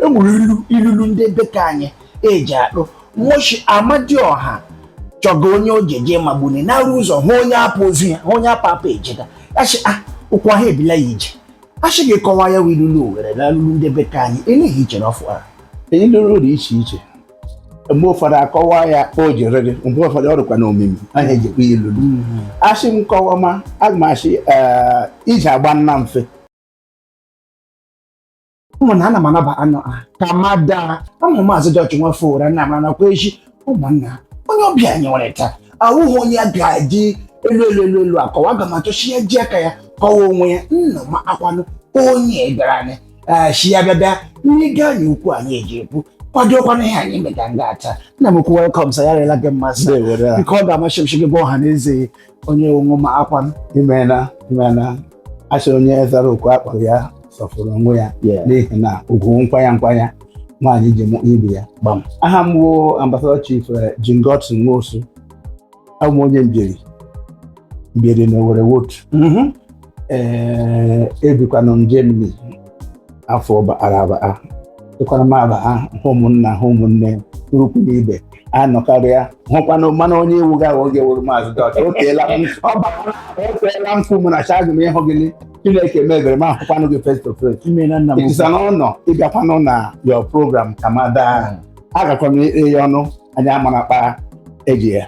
e nwere ilu ilulu ndị be ka anyị eji atụ wọ shị Amadioha chọga onye o ji eje magbuni na-arụ ụzọ hụ onye apụ ozu ya hụ onye apụ apụ ejega a shị a ụkwụ ahụ ebila ya ije a shị gị kọwa ya wụ ilulu Owere na ilulu ndị be ka anyị eleghị iche na ọfụ ara ilulu dị iche iche mgbe ụfọdụ akọwa ya o jere gị mgbe ụfọdụ ọ dịkwa na omimi ahụ ejikwa ilulu a sị m kọwa ma aga m asị ee, iji agba nna mfe ụmụnna ana m anaba anọ ha Kamada ama maazị George Nwafọ ụra nna m anakwa echi ụmụnna onye ọbịa anyị nwere taa awụghị onye a ga-eji elu elu elu elu akọwa aga m achọ shi ya ji aka ya kọwa onwe ya nna m akwanụ onye bịara anyị ee shi ya bịa bịa ndị ga anyị okwu anyị eji ekwu kwadokwana ihe anyị mega nga taa nna m ukwu welcome sir ya rela gị mmasị Ndewo, ya. nke ọ ga-amasị m shi gị gwa ọha na eze onye ị wụ akwanụ imena imena a sị onye zara oku a kpọrọ ya sọfụrụ onwe ya Yeah. n'ihi na ugwu nkwanya nkwanya nwaanyị ji mụ ibe ya Gbam. aha m wụ ambassador chief eh, Jingot Nwosu awụ m onye Mbieri Mbieri na Owerri Wotu Mhm. ee ebikwanụ m Germany afọ bara abaa ekwara m aba ha hụ ụmụnna hụ ụmụnne ikwu na ibe a nọkarịa hụkwanụ mana onye iwu ga aghọ oge wụrụ maazị George o teela m ọ bara o teela m fụ mụ na chagụ m ịhụ gị ni. Chineke mebere m ahụkwanụ gị face to face Imeela nna m. it is an honour ịbịakwanụ na your program Kamada agakwa m ire ya ọnụ anyị amara kpa eji ya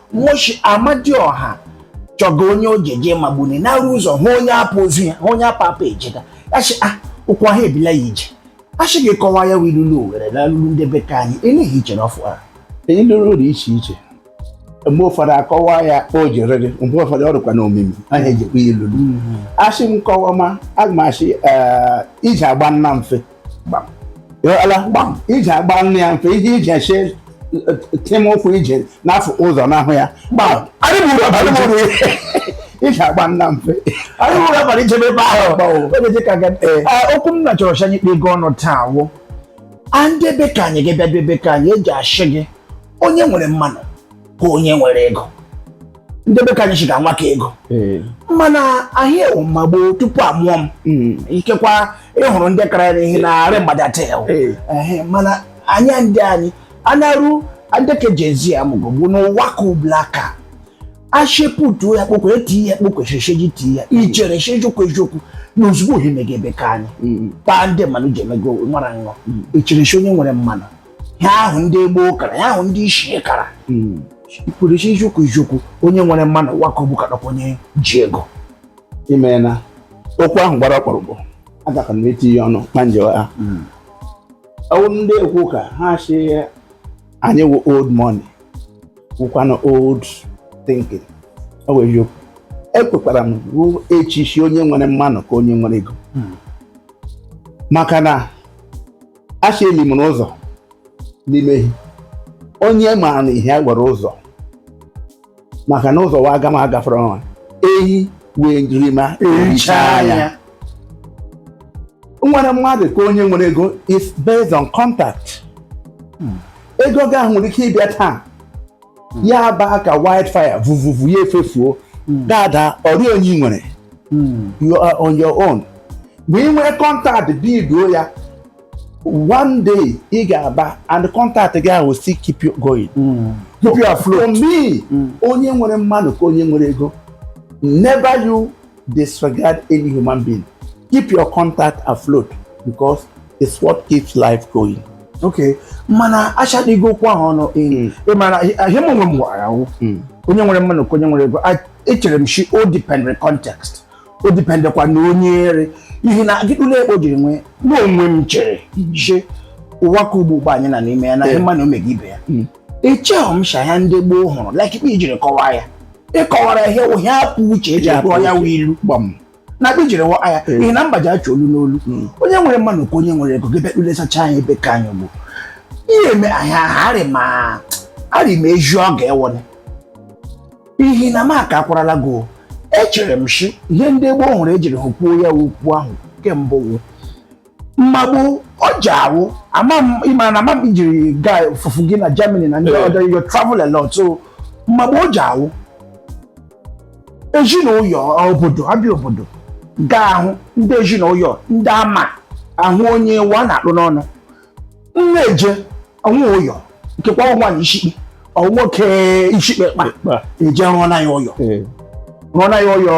wọ shị Amadioha chọga onye o ji eje magbuni na-arụ ụzọ hụ onye apụ ozu ya hụ onye apụ apụ ejega a shị a ah, ụkwụ ahụ ebila ya ije a shị gị kọwa ya wụ ilulu Owere na ilulu ndị be ka anyị eleghị iche na ọfụ ahụ ilulu dị iche iche mgbe ụfọdụ akọwa ya o jere gị mgbe ụfọdụ ọ dịkwa na omimi ahụ ejekwa ya ilulu mm-hmm. a shị m kọwa ma aga m ashị eh, iji agba nna mfe ala gbam iji agba nna ya mfe iji iji eche tim ụkwụ ije n'afọ ụzọ n'ahụ ya gbam iji agba nna mfe anyị nwere abalị ichebe ebe ahụ okwu m na chọrọ shi anyị kpe ego ọnụ taa wụ a ndị be ka anyị gị bịa be ka anyị eji ashị gị onye nwere mmanụ ka onye nwere ego ndị be ka anyị shiga nwa ka ego eh. mana ahị a wụ ma gboo tupu a mụọ m hmm. ikekwa ịhụrụ ndị kara ya ihe na-arị mgbada taa eh. mana anya ndị anyị anarụ adeke jezi amụgo bụ n'ụwa ka ụblaka a shepụta ya kpokwe eti ya kpokwe shesheji ti ya ichere shejokwu ejokwu na ozugbo ohi mega be ka anyị hmm. taa ndị mmanụ ji emego nwara nṅọ ichere hmm. shi onye nwere mmanụ ya ahụ ndị gboo kara ya ahụ ndị ichie kara hmm. pụrụ iche iziokwu iziokwu onye nwere mmanụ ụwa ka ugbu a kadịkwa onye ji ego i meela okwu ahụ gbara ọkpụrụkpụ agaka m etinye ọnụ na njewa ha hmm. ọ wụ ndị ekwu ka ha si anyị wụ old money wụkwanụ old thinking ọ wụ eziokwu ekwekwara m ruo echichi onye nwere mmanụ ka onye nwere ego hmm. maka na a shị eli mụrụ ụzọ n'ime ehi onye maara na ihe a gwara ụzọ maka na ụzọ wa aga m agafere ọnwa ehi wee rima erichaa onye nwere mmadụ ka onye nwere ego is based on contact ego gị ahụ nwere ike ịbịa taa hmm. ya baa ka wildfire vuvuvu ya efefuo hmm. dada ọrịa onye nwere hmm. you are on your own ma ị nwee contact builduo ya one day ị ga-aba and contact gị ahụ still keep you going keep you afloat for me onye nwere mmanụ ka onye nwere ego never you disregard any human being. Keep your contact afloat because it's what keeps life going. Okay, mana achadịghị okwu ahụ ọnụ hmm. ị mara ihe m onwe m gwara ahụ hmm. onye nwere mmanụ ka onye nwere ego echere m shi o dependere context o dependekwa na onye ere ihe na agịdụla ekpo jiri nwee n'onwe m chere shi hmm. ụwa ka ugbu ugbu a anyị nọ n'ime ya na ihe mmanụ emega ibe ya echeghị m shi ihe ndị gboo hụrụ like kpa ị jiri kọwaa ya ị kọwara ihe wụ ihe apụ uche eji Ya gụọ apụ ya uche. wụ ilu gbam na kpa ị jiri kọwaa ya n'ihi na mba ji achi olu n'olu onye nwere mmanụ ka onye nwere ego gị bịa kpụlesacha anya ebe ka anyị bụ ihe eme anyị aha arị ma arị ma eju ọ ga-ewone ihi na m aka akwarala gị o. echere m shi ihe ndị gboo hụrụ ejiri hụ kwuo ya wụ okwu ahụ kemgbe wụ mma gboo ọ ji awụ ama m ị ma na ama m i jiri gaa fufu gị na Germany na ndị Eh. ọdọ you travel a lot so mma gboo ọ ji awụ ezinụyọ obodo abịa obodo ga ahụ ndị ezinụyọ ndị ama ahụ onye wa na-akpụ n'ọnụ m na-eje ọ nwe ụyọ nke kwa ọ nwaanyị ishikpe ọ nwoke ishikpe kpa Kpa. eje rụọ na ya ụyọ Ee. rụọ na ya ụyọ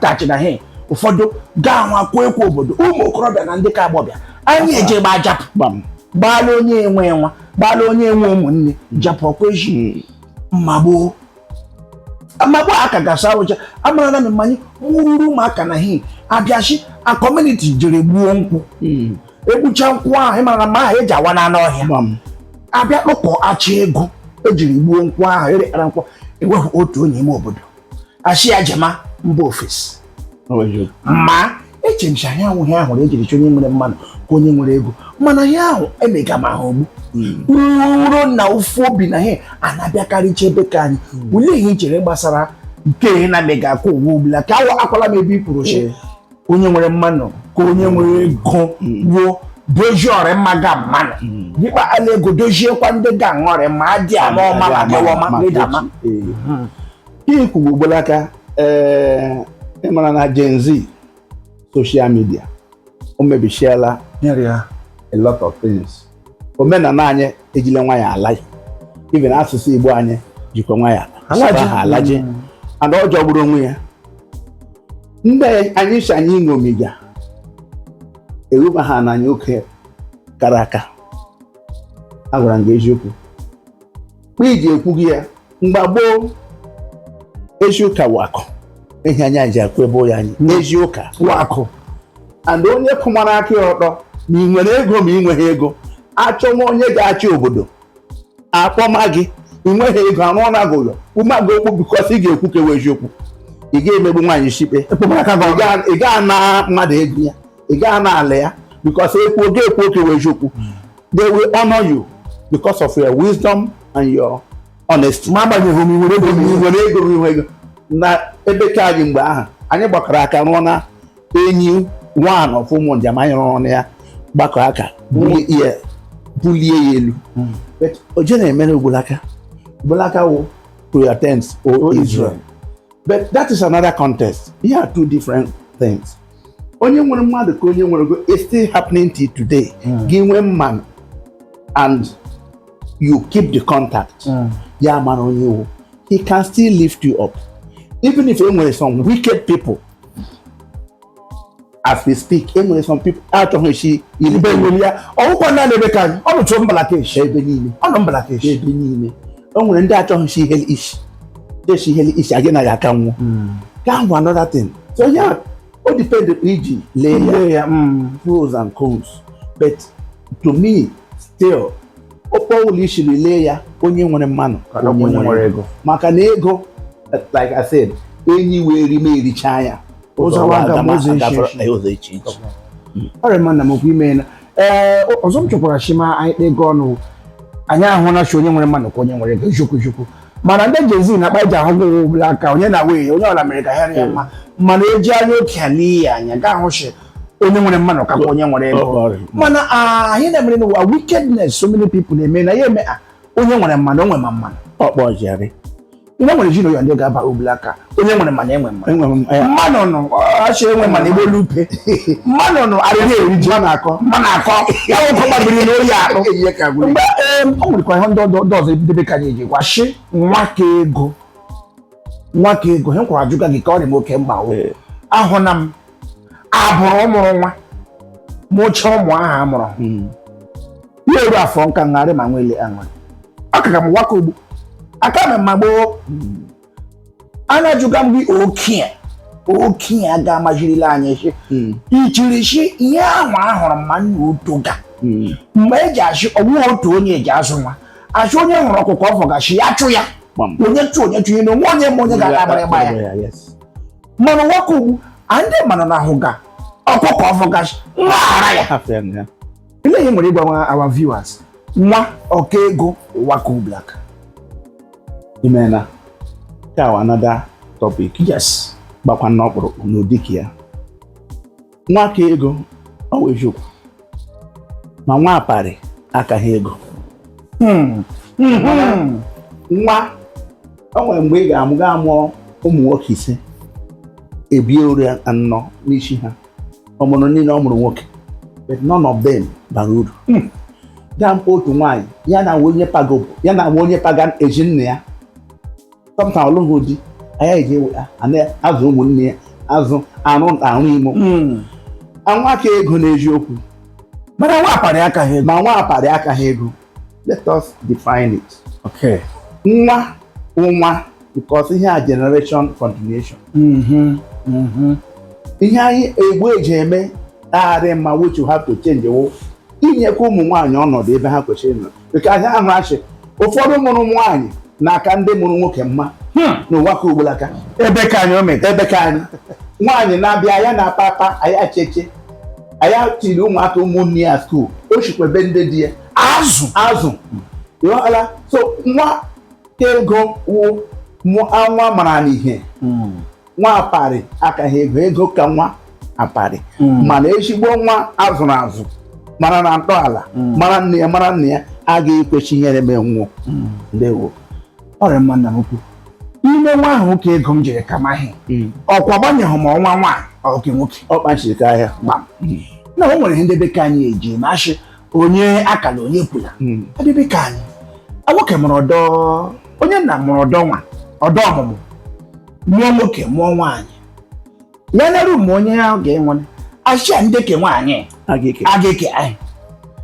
thatch na he ụfọdụ ga ahụ a kwuo ekwu obodo ụmụ okorobịa na ndị ka agbọbịa anyị eje gba japụ Gbam. gbaala onye enwe nwa gbaala onye enwe ụmụnne japụ ọkwa eji mma gboo amagbo aka gasị awụcha amara na mma anyị wụrụ ụmụaka na hi abịachi a community jere gbuo nkwụ hmm. egbucha nkwụ ahụ ị mara na mma ahụ eji awa n'anụ ọhịa abịa kpọkọọ achị ego ejiri gbuo nkwụ ahụ erekpara nkwụ ewepụ otu onye ime obodo a shị ya jema mba ofesi ma eche m si anyị ahụghị ahụ na ejiri chọ onye nwere mmanụ ka onye nwere ego mana ihe ahụ emega m ahụ ogbu uro hmm. na ụfụ obi na ihe a na-abịakarịcha ebe ka anyị hmm. olee ihe i chere gbasara nke ihe na-emega akụ ụwa ugbulaka awa akwala m ebe ị kwuru si onye nwere mmanụ ka onye nwere ego gwuo dozie ọrịa mma ga mmanụ dịkpa ala ego doziekwa ndị ga aṅụ ọrịa ma adị ama ọma ma dịwa ọma ihe i kwugbu ugbulaka ee eh, ịmara na Gen Z social media o mebishiela a lot of things omenala anyị ejile nwayọ ala even asụsụ Igbo anyị jikwa nwayọ alaji mm. and ọ jọgburu onwe ya ndị anyị si anyị ṅomiga eruba ha na anyị oke kara aka agwara m gị eziokwu eji ekwuga ya mgbe gboo eziụka wụ akụ ehi anya ji akụ ebe ya anyị eziụka wụ akụ and onye kwụmara aka ya ọtọ ma ị nwere ego ma ị nweghị ego achọwa onye ga-achị obodo akpọma gị ị nweghị ego arụ ọrụ agụ ụlọ umeagụ okwu because ị ga-ekwu ke wụ eziokwu ị ga-emegbu nwaanyị ishikpe ị ga-ana mmadụ ego ya ị ga-ana ala ya because ekwuo ọ ga-ekwu ke wụ eziokwu they will honor you because of your wisdom and your honesty. ma agbanyeghị m nwere ego m nwere ego m nwere ego na ebe ka anyị mgbe ahụ anyị gbakọrọ aka rụọ na enyi one of ụmụ njem anyị rụrụ na ya gbakọ aka bulie ya bulie ya elu hmm. oje na-emere ugbulaka ugbulaka wụ to your tents o Israel but that is another context they are two different things onye nwere mmadụ ka onye nwere ego it's still happening till today hmm. gị nwee mmanụ and you keep the contact hmm. ya mara onye ị wụ he can still lift you up even if e nwere some wicked people as we speak e nwere some people achọghị shi iribe nwere ya ọ wụkwa na ebe ka ọ nọcha mbalakeshi ebe niile ọ nọ mbalakeshi ebe niile o nwere ndị achọghị shi ihe ishi deshi ihe ishi agị naghị aka nwụ ka ahụ another thing so yeah ọ depend iji lee ya pros and cons but to me still kpa ọwụla i shiri lee ya onye nwere mmanụ onye nwere ego maka na ego like I said enyi wee ri ma ericha ya ụzọ wa aga m ụzọ iche iche ọrịa mmanụ m okwu ime ee ọzọ m chọkwara shi ma anyị kpee gị ọnụ anyị ahụ na shi onye nwere mmanụ ka onye nwere ego eziokwu eziokwu mana ndị Gen Z na kpa eji ahụ gị nwe ugbulaka onye na wee onye ọla mere ka ha rịa mma mana eji anya okii ele ya anya ga-ahụ shi onye nwere mmanụ ka onye nwere ego Ọ- ọ- mana ah, anyị na-emere n'ụwa wickedness so many people na-eme na ya eme ah, onye nwere mmanụ o nwere ma mmanụ ọkpọjari nne nwere ji na oya ndị ga-aba ugbulaka onye nwere mana enwe mma enwe m ya mmanụ nnu ashị enwe mana igbo lupe mmanụ nnu arịrị eri ji ma na-akọ ma na-akọ ya nwoke gbabiri na oyi akpụ ihe ka gwụrụ mgbe em, o nwerekwa ihe ndị ọdọ- ndị ọzọ nde be ka anyị eji gwa shi nwa ka ego nwa ka ego he kwara ajụga gị ka ọ dị m oke mkpa o Ee. ahụ na m abụrụ mụrụ nwa mụcha ụmụ ahụ a mụrụ hmm. ya eru afọ nka ngharị ma nwele aṅụrị akaga m ụwa ka ugbu a ka m mma gboo hmm. ana ajụga m gị okie okenye a ga-amajirila anyị si hmm. ichirichi ihe ahụ ahụrụ mma nna uto ga hmm. mgbe eji ashị ọ wụ otu onye eji azụ nwa ashị onye hụrụ ọkụkọ ọ vọga nshị ya chụ ya onye chụ onye chụ ihe na o nwe onye ma onye ga-aga agbara ịgba ya mana ụwa ka ugbu a ndị manụ na-ahụga ọkụkọ ọ vọga nshị nwa ahara ya Afọ ya na ya. Olee ihe i nwere ịgwa our viewers nwa ọ ka ego ụwa ka ugbulaka. Imena. Ka wụ another topic. Yes. Gbakwa n'ọkpụrụkpụ n'ụdị ka ya. nwa ka ego ọ wụ eziokwu ma nwa aparị akaghị ego hmm. Hmm. nwa o nwere mgbe ị ga-amụ gaa mụọ ụmụ nwoke ise ebie ori anọ n'isi ha ọ mụrụ niile ọ mụrụ nwoke but none of them bara uru hmm. gaa mkpa otu nwaanyị ya na onye pagobo ya na onye paga ezi nna ya tọpụta ọ lụghị di anya eji ewe azụ ụmụnne ya azụ arụ arụ imo hmm. nwa ka ego n'eziokwu mana nwa aparị akaghị ego ma nwa aparị akaghị ego let us define it okay nwa nwa because ihe a generation continuation mm-hmm. Mm-hmm. ihe anyị Igbo eji eme arịghị mma which you have to change wụ inyekwa ụmụ nwaanyị ọnọdụ ebe ha kwesịrị ịnọ because ahụ ashị ụfọdụ mụrụ nwaanyị na-aka ndị mụrụ nwoke mma hmm. n'ụwa ka ugbulaka ebe ka anyị ome ebe ka anyị nwaanyị na-abịa ya na papa ya cheche ya tiri ụmụaka ụmụnne ya skuul o shikwa ebe ndị di ya azụ azụ ịghọtala so nwa ka ego wụ nwa maranụ ihe hmm. nwa aparị akaghị ego ego ka nwa aparị hmm. mana ezigbo nwa azụrụ azụ mara na ntọala hmm. mara nne ya mara nna ya agaghị ekwe shi ihere mee nwo hmm. ndewo ọ rị mma nna m ukwu ime nwa ahụ nwa ka ego m jiri ka maghị ọkwa gbanyeghị ma ọ wụ nwaanyị ọ ke nwoke ọ kpachiri ka ahịa gbam na o nwere ihe ndị be ka anyị eji na-ashị onye akala onye kwula ndị be ka anyị nwoke mụrụ ọdọ onye nna mụrụ ọdọ nwa ọdọ ọmụmụ mụọ nwoke mụọ nwaanyị ya naru ma onye ya ga-enwere achịa ndị ke nwaanyị a ga-eke a ga-eke anyị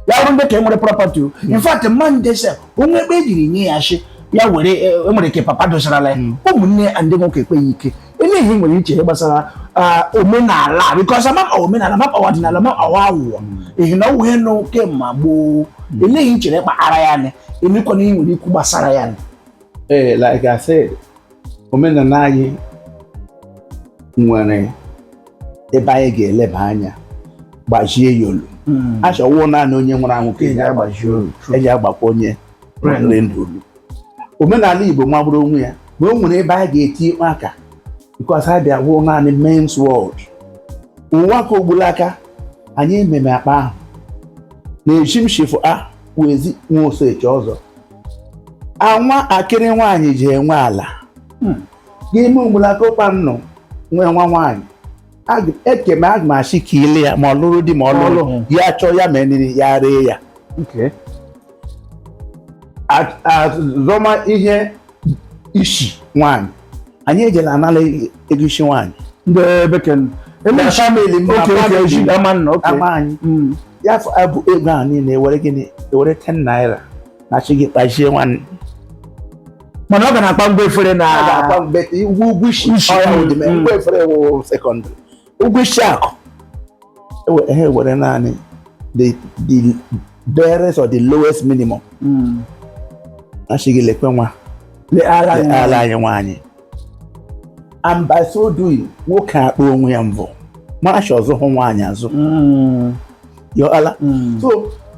ya bụrụ ndị ka enwere property o in fact mma ndị se onwe ebe ejiri nye ya shi ya were e e nwere ke papa dosarala ya ụmụnne ya ndị nwoke ekweghị ike elee ihe ị nwere iche ihe gbasara ah, omenala because amapa omenala mapa ọdịnala mapa ọwa awụwa ehi na ọwụ ihe nọ kemma gboo elee ihe ị chere kpara ya anya emekwana ihe nwere ikwu gbasara ya anya ee like i said omenala anyị nwere ebe anyị ga-eleba anya gbajie ya olu hmm. a shi ọ wụ naanị onye nwụrụ anwụ ka eji agbaji olu eji agbakwa onye nwere ndụ olu omenala Igbo magburu onwe ya ma o nwere ebe anyị ga-eti ikpe aka because ha bịa wụrụ naanị men's world ụwa ka ogbulaka anyị ememe akpa ahụ n'ezi m shi fụ awụ ezi nwa osechi ọzọ anwa akịrị nwaanyị ji enwe ala hmm. n'ime mgbulakọkpa m nọ nwee nwa nwaanyị ekeme aga m achị ka ile ya ma ọ lụrụ di ma ọ lụrụ ya chọọ ya mee nri ya ree ya azọma ihe isi nwaanyị anyị ejela anala ego isi nwaanyị ndị bekee Ndị family m, oke oke family. ji ama nna oke ama anyị Mm. ya fọ- abụ ego ahụ niile ewere gịnị ewere 10 naira na shi gị kpachie nwanne mana ọ ga na-akpa ngwa efere na a ga-akpa mgbe ụgwọ ụgwọ isi Isi, ọya mm, ụdị mee mm. ngwa efere wụ secondary ụgwọ isi akụ ha ewere naanị the the barest or the lowest minimum hmm. a shi gị lekwe nwa ala anyị nwaanyị and by so doing nwoke akpọ onwe ya mbọ mara shi ọ zụhụ nwaanyị azụ hmm. yọala hmm. so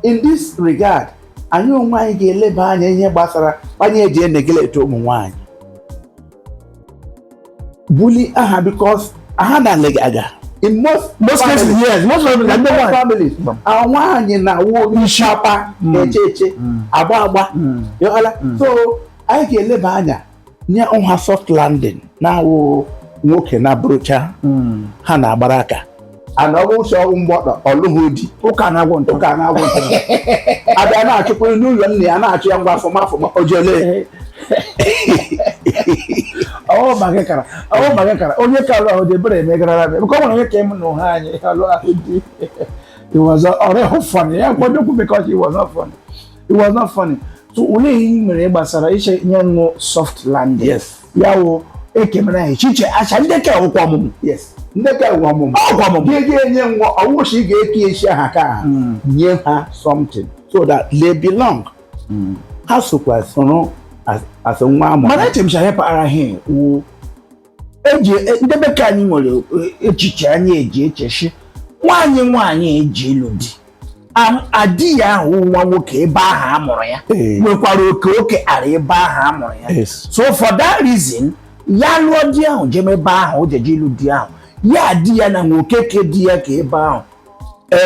in this regard anyị onwe anyị ga-eleba anya ihe gbasara anyị eji eneglect ụmụ nwaanyị bully aha because aha na nne gị aga in most most cases yes most of them number one families nwaanyị na-awụ ishapa eche eche agba agba yọala so anyị ga-eleba anya nye ha soft landing na-awụ nwoke na-abụrụcha ha na-agbara aka ana ọ wụ ụsọ ọ wụ mgbọtọ ọlụghị di ụka na-agwụ ntụ ụka na-agwụ ntụ abịa na-achụkwa n'ụlọ nne ya na-achụ ya ngwa afọma afọma ojele ọwụ ma gị kara ọwụ ma gị kara onye ka alụhụ di ebere emegarara m nke ọ nwere onye ka ịmụ na ụha anyị alụhụ di it was ọ rịhụ funny ya nkwado kwu because it was not funny it was not funny so olee ihe ị nwere gbasara iche ihe wụ soft landing yes ya wụ ekemere anyị chiche acha ndị ka ụkwụ ọmụmụ yes ndị ka ụwa ọmụmụ ọgwụ ọmụmụ gị ga-enye nwa ọwụ shi a ga-ekesi aha ka ha nye ha something so that they belong ha sokwa soro as- as nwa amụrụ mana echemcha ya paara ihe eji e, nde ebe ke anyị nwere e, echiche anyị eji eche shi nwaanyị nwaanyị eje ịlụ di a di ya ahụ nwa nwoke ebe ahụ a mụrụ ya nwekwara oke oke ara ebe ahụ a mụrụ ya so for that reason ya lụọ di ahụ jeme ebe ahụ o jeje ịlụ di ahụ ya na di ya na nwoke ke di ya ka ebe ahụ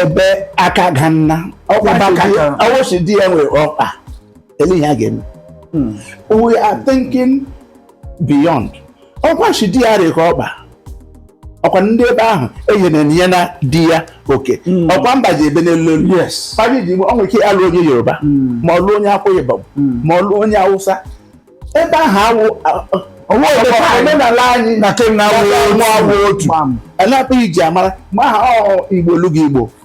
ebe aka ga nna ọ wụ shi di ya nwere ọkpa ele ihe a ga-eme hmm. we are thinking beyond ọkwa shi di ya rịka ọkpa ọkwa ndị ebe ahụ enyere ya na di ya oke hmm. ọkwa mba ji ebe n'elu elu paji ji ọ nwere ike alụ onye yoruba hmm. ma ọ lụ onye akwa ibom ma ọ lụ onye awụsa ebe ahụ awụ omenala anyị na kemgbe awụ otu anapụghị ji amara ma aha ọ igbo lụgo igbo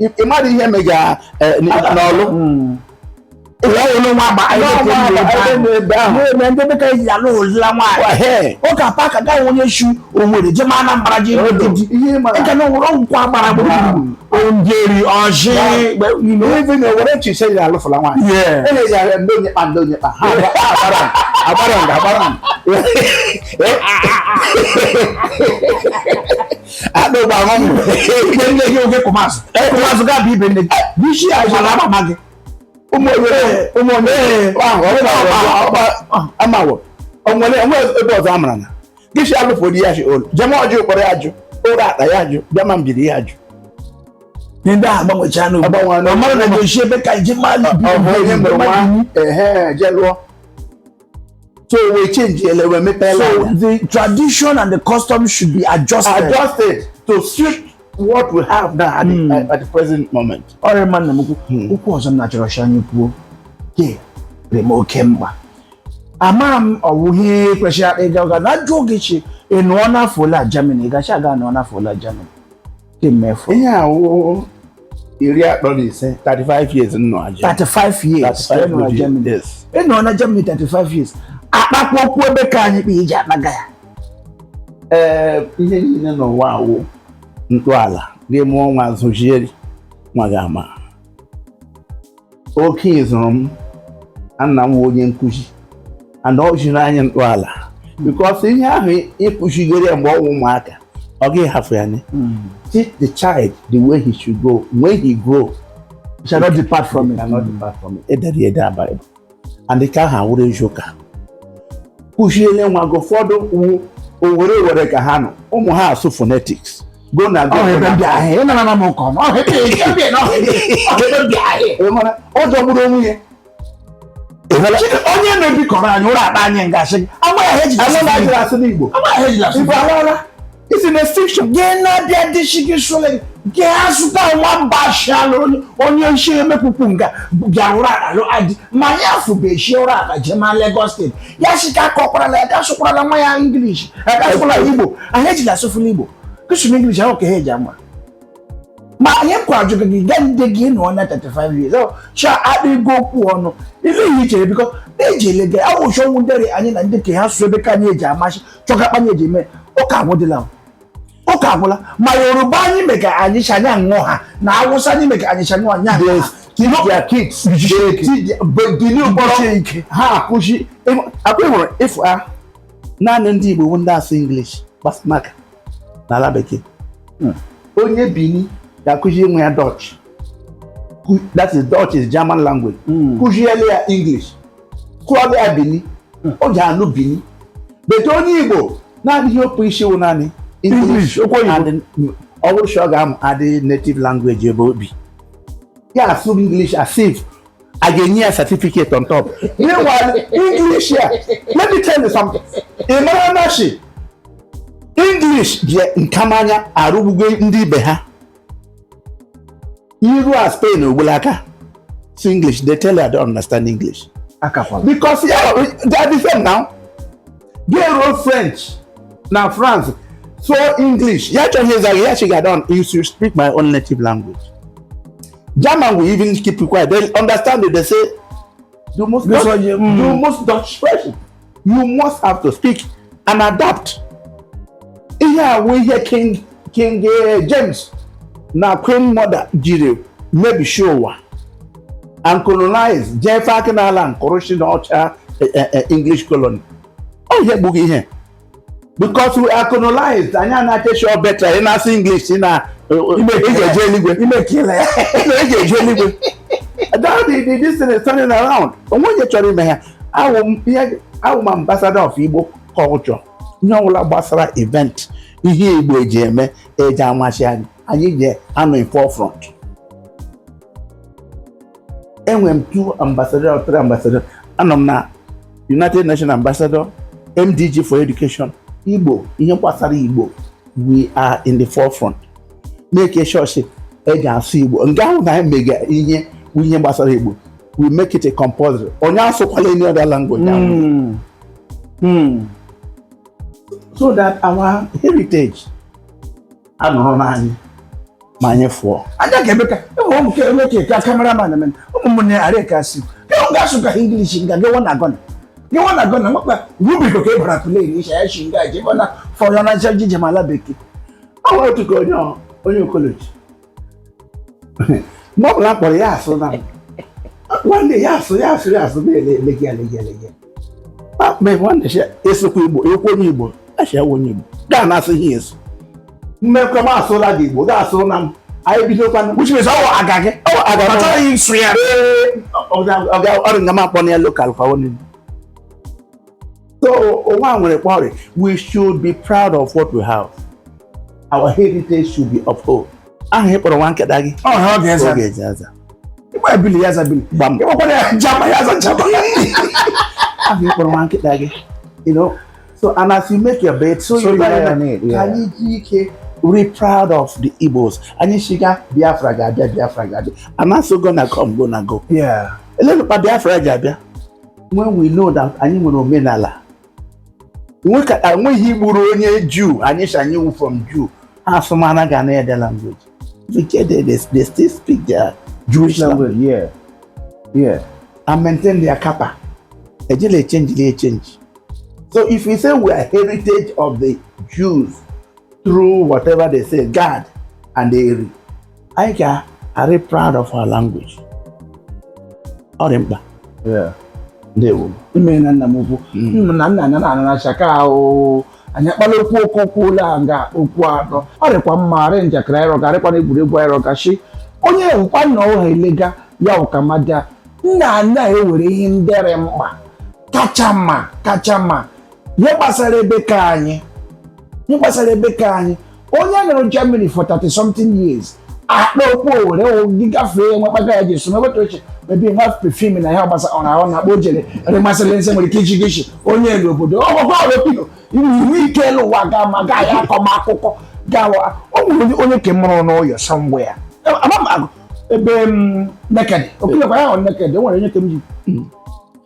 ị mara ihe mega eh, n'ọlụ hmm. nde ebe ka eji ala olila nwaanyị ụka paka gaghị onye shi owere jeme anambra ji ịga na owere ọgwụkwọ agbara gburugburu nde orji even owere chiche ji alụfụla nwaanyị eji ara ndị onye kpa ndị onye kpa ha agbara nga agbara adọgba ahụ m ibe nne gị oge kụmazụ kụmazụ ga bụ ibe nne gị bisi ajala amama gị ụmụ onye ụmụ onye ahụ ọ bụla ọgba amawo o nwere onwe ebe ọzọ amara na bisi alụfo di ya si orlu jema orji ụkpọrọ ya jụ ụratta ya jụ bịama mbieri ya jụ ndị a gbanwecha n'ugbo Agbanwe n'ugbo. ọ mara na ga-esi ebe ka iji mmadụ ọ bụ onye mụrụ nwa ehe je lụọ so we change ele ụwa mepe so the tradition and the custom should be adjusted adjusted to suit what we have now at, mm. the, hmm. at the present moment. ọ rị mma nna m ukwu hmm. okwu ọzọ m na-achọrọ shi anyị kwuo ke rị m oke mkpa ama m ọ wụ ihe kwesịrị akpa ịga ụga na ajụ oge chi ị nọọna afọ ole na Germany ị ga-shi gị anọọna afọ ole na Germany ihe awụ iri atọ na ise 35 years nọ na Germany. 35 years 35 nọ na years, Germany. yes. ị nọ na Germany 35 years akpakwa okwu ebe ka anyị kpa eji akpaga ya ee ihe niile n'ụwa awụ ntọala gị mụọ nwa zụzie nwa ga-ama oke ịzụrụ m nna m wụ onye nkụzi and o ziri anyị ntọala because ihe ahụ ị kụzigere ya mgbe ọ wụ ụmụaka ọ gaghị hafụ ya teach the child the way he should go when he grow he shall not depart from it. Shall not depart from it. E dere ya ede na Bible. andị ka aha wụrụ eziokwu ahụ kụziele nwa gị ụfọdụ wu Owere Owere ka ha nọ ụmụ ha asụ phonetics go na go Ọ ebe ndị ahịa, ị nara na m nke ọma. Ọ ebe ndị ahịa, na ọ ebe ndị ahịa. Ị mara, ọ jọgburu onwe ya Chike, onye na-ebikọrọ anyị ụra akpa anyị ngasị gị. Agba ya ha ejila asụ anụ na-ajụrụ n'Igbo. asụ n'igbo Agba ya ha ejila asụ igbo n'Igbo. alala It's in the fiction. Gee na-abịa dị shiki shole gee azụta nwa mba ashiala onye nshi emekpukpu nga bịa ụra ala lụ adị ma anyị afụbe shi ụra ala jee ma Lagos steeti ya shi ka akọkwarala ya ka asụkwarala nwa ya English ya ka asụkwala ya Igbo anyị ejila asụfụla Igbo kụsụrụ English ahụ ka ha eji ama ma anyị nkwa ajụghị gị gaa ndị gị nọ na 35 years ọ cha adịgo okwu ọnụ ilu ihe i chere biko na-eji ele gị awụchọnwụ ndere anyị na ndị ka ha sụ ebe ka anyị eji amachi chọga akpanye eji eme ụka agwụdịla ụka agwụla ma yoruba anyị me ka anyị si anya ṅụọ ha na awụsa anyị me ka anyị si anya anya ṅụọ ha Teach their kids. They teach their- but the new borough, ha akụzi a kwa ị hụrụ ịfụ a naanị ndị igbo bụ ndị asụ english gbas maka n'ala bekee onye bini ga-akụzi nwa ya dutch Ku- that is dutch is german language kụziele ya english kọọla ya bini o ji anụ bini but onye igbo naanị ihe o pu ishi wụ naanị English, okwu oyibo. and ọ wụrụ sọ ga-amụ adị native language ebe o bi ya asụ English as if a ga-enye ya certificate on top meanwhile English ya let me tell you something ị mara na shi English bịa nkamanya arụgbugo ndị ibe ha iru a spain ogbula aka si english dey tell you i don't understand english because yeah, they are the same now gay road french na france so english ya chọghị ịza gị ya chị ga don you should speak my own native language german will even keep you quiet they understand it they say the most dutch mm. the most dutch french you must have to speak and adapt ihe a wụ ihe king king eh, james na queen mother jiri mebishi ụwa and colonize jee fak n'ala kwuru shi na ọcha eh, eh, eh, english colony ọ ihe gbughị ihe because we are colonized anyị ana-eche shi ọ better ị na-asụ english ị na ị ga-eje eluigwe ị ga-eje eluigwe that the the this thing is turning around o nwe onye chọrọ ime ya awụ m ihe awụ m ambassador of igbo culture ihe ọbụla gbasara event ihe igbo eji eme eji amachi anyị anyị ga-anọ in forefront enwere m two ambassador or three ambassador anọ m na united nations ambassador mdg for education igbo ihe gbasara igbo we are in the forefront make sure shi eji asụ igbo nga anyị mega ihe ihe gbasara igbo we make it a compulsory onye asụkwala any other language. Mm. Mm. so that our heritage anụrụ n'anyị ma anyị fụọ anya ga-eme ka enwe ụmụ ka eme ka eke cameraman eme ụmụnne arịa ka si ka ọ ga-asụ ka English nga gị wanna gonna gị wanna gonna nwakwa rubiko ka ị bara kule na isha ya shi nga ji ebe na fọrọ na ncha ji je ma ala bekee ọ nwere otu ka onye ọ- onye okoloji mgbe ọ bụla m kpọrọ ya asụ na m nwanne ya asụ ya asụ ya asụ na-ele ele gị ele gị ele gị akpụkpọ ịhụ na esokwa igbo ekwu onye igbo achịa onye igbo gaa na asịghị eso mmekọ m asụla gị igbo gaa asụrụ na m anyị bidokwa which means ọwụ aga gị ọwụ aga m achọghị ịsụ ya ọrụ nga m akpọ na ya local kwa onye so onwe a nwere kpọrị we should be proud of what we have our heritage should be upheld aha ị kpọrọ nwa nkịta gị ọ ya ọ ga-aza oge e ji aza ị gba ya bili ya aza bili gbam ị gbakwara ya jama ya aza jama aha ị kpọrọ nwa nkịta gị you know so and as you make your bed so you lie on it, yeah. ka anyị ji ike rị proud of the Igbos anyị shiga Biafra ga-abịa Biafra ga-abịa and also gonna come gonna go yeah elenụ kpa Biafra ji abịa when we know that anyị nwere omenala enweghị gburu onye juu anyị shanye iwu from juu ha asụmana ga na ede language they, they still speak their Jewish language yeah yeah and maintain their kappa ejele change they change so if we say we are heritage of the Jews through whatever they say God and they anyị ka arị proud of our language ọ rị mkpa ndewo i meena nna m ukwu hmm. na nna na na-anacha ka ahụ anyị akpala okwu okwu okwu ụlọ a nga okwu atọ ọ rịkwa mma arị njakịrị anyị rọga arịkwana egwuregwu anyị rọga shi onye ewukwa nna ọha elega ya ụkamada nna anyị ewere ihe nde rị mkpa kacha mma kacha mma ihe gbasara ebe ke anyị ihe gbasara ebe ke anyị onye nọrọ Germany for 30 something years akpa okwu Owere gị gafee enwe kpaka ya ji eso meweta oche maybe nwa perfume na ya gbasa ọ na-ahụ na akpa o jere ere masịrị nsị nwere ike iji gị chi onye elu obodo ọgụgụ ọrụpido iwe ike elu ụwa ga ma gaa ya akọma akụkọ gawa o nwere onye ke mụrụ n'ụyọ somewhere ya ama m agụ ebe Nekede okilekwa ya hụ Nekede o nwere onye ke m ji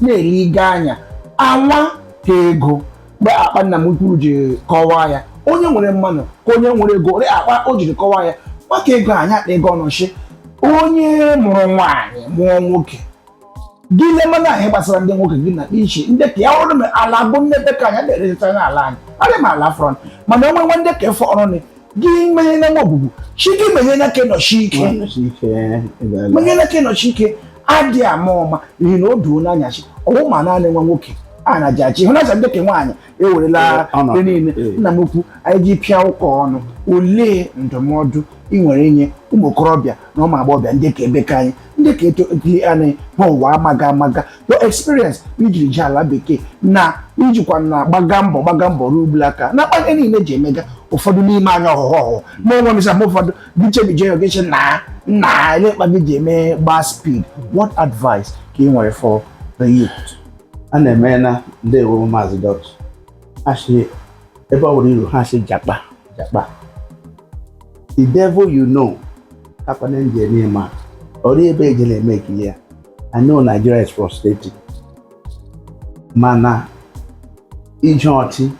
na-elega anya anwa ka ego mgbe kpa nna m ukwu ji kọwaa ya onye nwere manụ ka onye nwere ego rị kpa o jiri kọwaa ya maka ego anyị akpa ego ọnọchi onye mụrụ nwaanyị mụọ nwoke gị lemana ihe gbasara ndị nwoke gị na iche ndị ka ya ọrụ ala bụ nne be ke anyị na-erejeta n'ala anyị adị m ala front mana onwe nwe ndị ka efe ọrụ gị menye na maọbụbụ chi gị menye na ke nọshi ike menye na ke nọshi ike adị ama ọma n'ihi na o duo n'anya shi ọ wụ ma naanị nwa nwoke a na ji achị hụ na-acha ndị ke nwaanyị ewerela ihe niile nna m ukwu anyị ji pịa ụka ọnụ olee ndụmọdụ ị nwere inye ụmụ okorobịa na ụmụ agbọghọbịa ndị ke ebe ke anyị ndị ka eto dị anyị ha ụwa amaga amaga your experience i jiri jee ala bekee na i jikwa na-agbaga mbọ gbaga mbọ ruo ugbulaka na jakpa niile ji emega ụfọdụ n'ime anyị ọhụhụ ọhụhụ ma onwe m sam ụfọdụ bichebije ya ogeche na na ele mkpa gị ji eme gbaa speed what advice ka ị nwere for the youth a na-eme na ndewo maazị dọt achị ebe ọ bụla i ru ha sị jakpa jakpa the devil you know kakwanụ angel ị na-ama ọrụ ebe eje na-eme ekili ya I know Nigeria is frustrating mana ije ọchị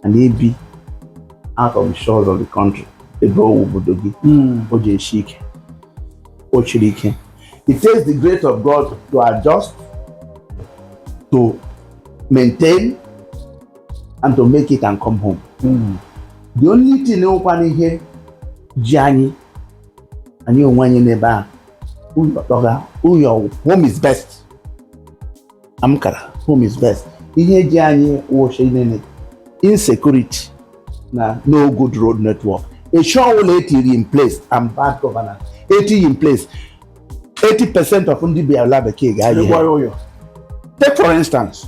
and ibi out of the shores of the country ebe ọ wụ obodo gị hmm. o ji esi ike o shiri ike it takes the grace of God to adjust to maintain and to make it and come home mm. the only thing nwekwana ihe ji anyị anyị onwe anyị n'ebe a ayọtaga ụyọ home is best amkara home is best ihe ji anyị wụcha naanị insecurity na no good road network a sị ọ bụ la e tiri in place and bad governance etighị in place 80 percent of ndị bi ala bekee ga-ayị Ịgwa ya ụyọ. take for instance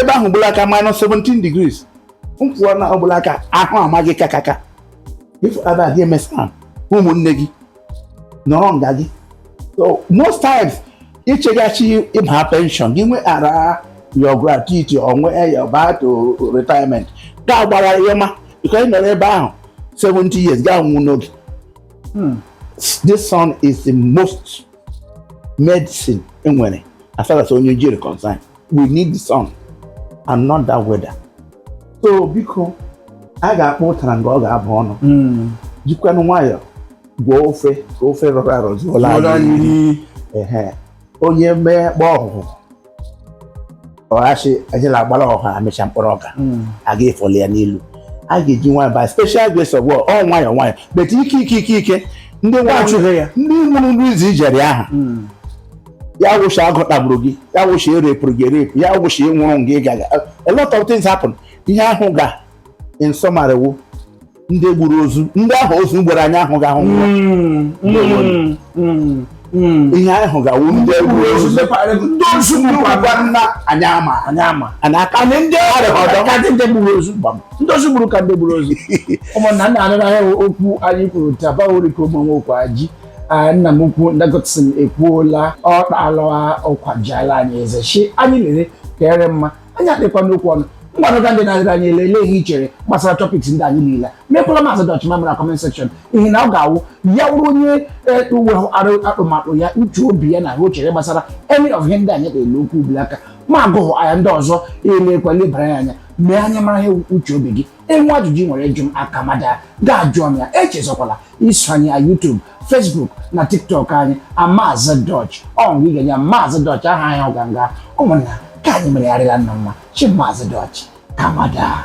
ebe ahụ ugbulaka minus 17 degrees m kwụọ na ugbulaka ahụ ama gị kakaka ife ada gị emesa ụmụnne gị nọrọ nga gị so most times i cheghachi ịba pension gị nwe ara your gratuity onwe your back to retirement ga gbara ihe ma because ị nọrọ ebe ahụ 70 years ga-anwụ n'oge hmm. this sun is the most medicine e nwere as far as onye ojii rị concern we need the sun and not that weather so biko a ga-akpụ ụtara nga ọ ga-aba ọnụ hmm. jikwanụ nwayọọ gwọọ ofe ka ofe rọrọ arọ zuola anyị onye mee kpa ọ hụ ọha shị anyị na-agbara ọha amịcha mkpụrụ aka hmm. a ga-efoli ya n'elu a ga-eji nwayọ by special grace of God ọ nwayọ nwayọ but ike ike ike ike ndị nwachụghị ya ndị nwụrụ ndị izi jere aha hmm. ya wụcha agụ tagburu gị ya wụcha e repụrụ gị erepụ ya wụcha ị nwụrụ nga ị gaga a lot of things happen ihe ahụ ga in summary wụ ndị gburu ozu ndị ahụ ozu gburu anyị ahụ ga-ahụ nwa Mm, mm, mm, mm. ihe anyị hụ ga-awụ ndị gburu ozu ndị ozu gbukwa nna anyị ama anyị ama anyị aka anyị ndị ọdọ ka ndị ndị gburu ozu gbam ndị ozu gburu ka ndị gburu ozu ụmụnna nna anụ n'ahịa okwu anyị kwuru taa bawori ka ụmụ nwoke aji Ah, nna m ukwu nda Godson ekwuola ọ kpaala ọkwa jiala anyị eze shị anyị lere ka ere mma anyị adịkwa n'okwu ọnụ mgbanụga ndị na-adịrị anyị olee ihe i chere gbasara topics ndị anyị niile mekwala Maazị Dutch mara na comment section ihe na ọ ga-awụ ya wụrụ onye nwee atụmatụ ya uche obi ya na ihe o chere gbasara any of ihe ndị anyị na-ele okwu ubili aka ma agụghụ anya ndị ọzọ elekwa lebara ya anya mee anyị mara ihe uche obi gị i nwee ajụjụ ị nwere ịjụ m aka mada ga-ajụ ọnụ ya echezọkwala iso anyị na YouTube Facebook na TikTok anyị Maazị Dutch ọ nga ị ga-enye Maazị Dutch aha anyị ọganga ụmụnna ka anyị meregharịla nna mma chi Maazị Dutch kamada